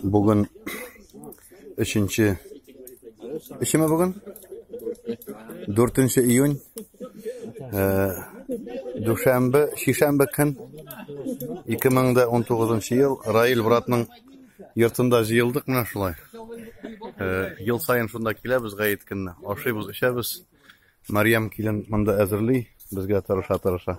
Бүген өченче Өчеме бүген? 4 июнь. Э, дүшәмбе, шишәмбе көн 2019 ел Раил братның йортында җыелдык менә шулай. Э, ел саен шунда киләбез гаит көнне. Ашыйбыз, эчәбез. Марьям килен монда әзерли, безгә тырыша-тырыша.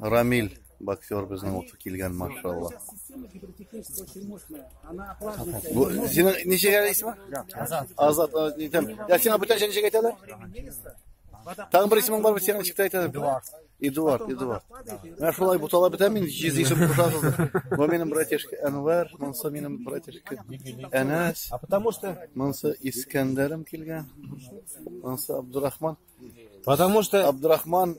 Рамиль боксер безнең ут килгән, машалла. Бу синең ничек әле исеме? Азат. Азат, әйтәм. Я сиңа бүтәнчә ничек әйтәләр? Тагын бер исемең бармы синең ничек әйтәләр? Эдуард. Эдуард, Эдуард. Менә шулай бутала бетә мин, җиз исем кушасыз. Бу минем братишка Әнвәр, монсы минем братишка Әнәс. А потому что монсы Искәндәрем килгән. Монсы Абдурахман. Потому что Абдурахман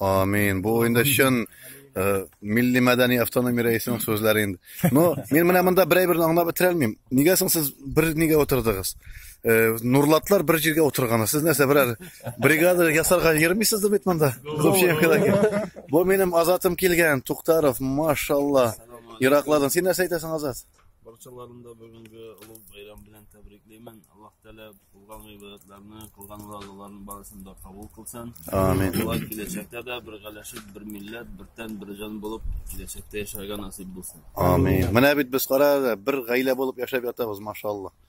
Амин. Бу инде чын э, милли мәдәни автономия рәисенең сүзләре инде. Но мин менә монда берәй берне аңлап бетерә алмыйм. Нигә соң сез бер нигә утырдыгыз? Э, нурлатлар бер җиргә утырганы. Сез нәрсә берәр бригада ясарга йөрмисез дә бит монда? Бу минем Азатым килгән, Туктаров, машалла. Ираклардан син нәрсә әйтәсең, Азат? Барчаларын да бүгенге олуг бәйрәм белән тәбриклимен. Аллаһ Тәгалә кылган гыйбадәтләрне, кылган вазаларның барысын да кабул кылсын. Амин. Алла киләчәктә дә бер галәшеп, бер милләт, бер тән, бер җан булып киләчәктә яшәргә насыйп булсын. Амин. Менә бит без кара бер гаилә булып яшәп ятабыз, машалла.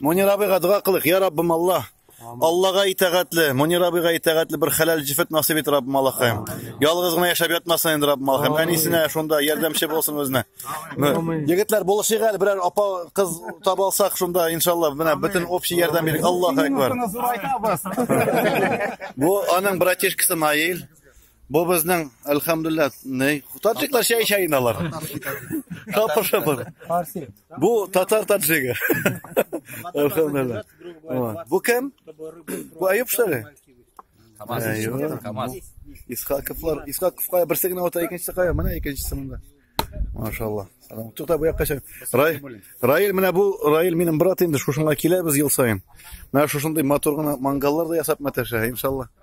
Мунир абыйга дога кылык, я Раббым Алла. Аллага итәгатле, Мунир абыйга итәгатле бер хәләл җифет насыйп ит Раббым Аллахаем. Ялгыз гына яшәп ятмасын инде Раббым Аллахаем. Әнисенә шунда ярдәмче булсын үзенә. Егетләр булышыйк әле берәр апа кыз таба алсак шунда иншалла менә бөтен общий ярдәм бирик. Аллаһу акбар. Бу аның братишкасы Наил. Бу безнең, әлхәмдулилла, ни? Таджиклар чәй чәй алар. Шапыр шапыр. Фарси. Бу татар таджигы. Әлхәмдулилла. Бу кем? Бу Аюп шәре. Камаз. Камаз. Исхаковлар, Исхаковка берсе генә ата, икенчесе кая? Менә икенчесе монда. Машалла. Салам. Тукта бу якка чык. Рай, Раил менә бу Раил минем брат инде шушыңа киләбез ел саен. Менә шушындый матур гына мангаллар да ясап мәтәшә, иншалла.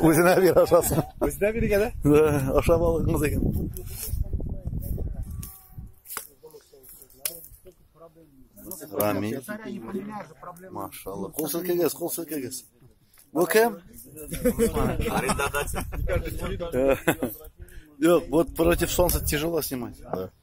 Үзенә бир ашасын. Үзенә биргә дә? Да, ашап алыгыз икән. Рами. Машалла. Кул селкегез, кул селкегез. Бу кем? Арендодатель. Э, Юк, вот против солнца тяжело снимать. Да.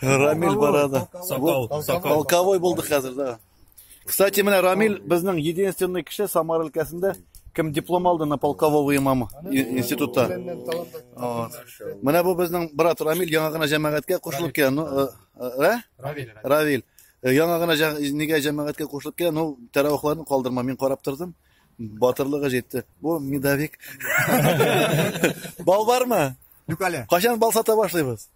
Рамиль барады. Сакал, сакал. Полковой булды хәзер, да. Кстати, менә Рамиль безнең единственный кеше Самар өлкәсендә кем диплом алды на полкового имама институтта. Менә бу безнең брат Рамиль яңа гына җәмәгатькә кушылып килә. Ну, э, э, э? Равиль. Равиль. Яңа гына нигә җәмәгатькә кушылып килә? Ну, тәравихларын калдырма, мин карап тордым. Батырлыгы җитте. Бу медовик. Бал бармы? Юк әле. Кашан бал сата башлыйбыз?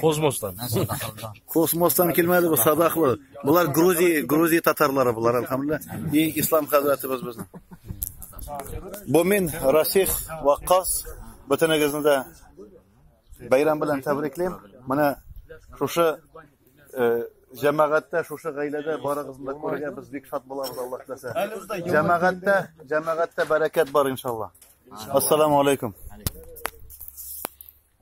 Космостан. Космостан килмәде бу садаклы. Булар Грузия, Грузия татарлары булар, әлхәмдулла. И ислам хәзрәтебез безнең. Бу мин Расих Ваккас бөтенегезне дә бәйрәм белән тәбриклим. Менә шушы э, җәмәгатьтә шушы гаиләдә барыгызны да күрергә без бик шат булабыз Аллаһ теләсә. Җәмәгатьтә, җәмәгатьтә бәрәкәт бар иншалла. Ассаламу алейкум.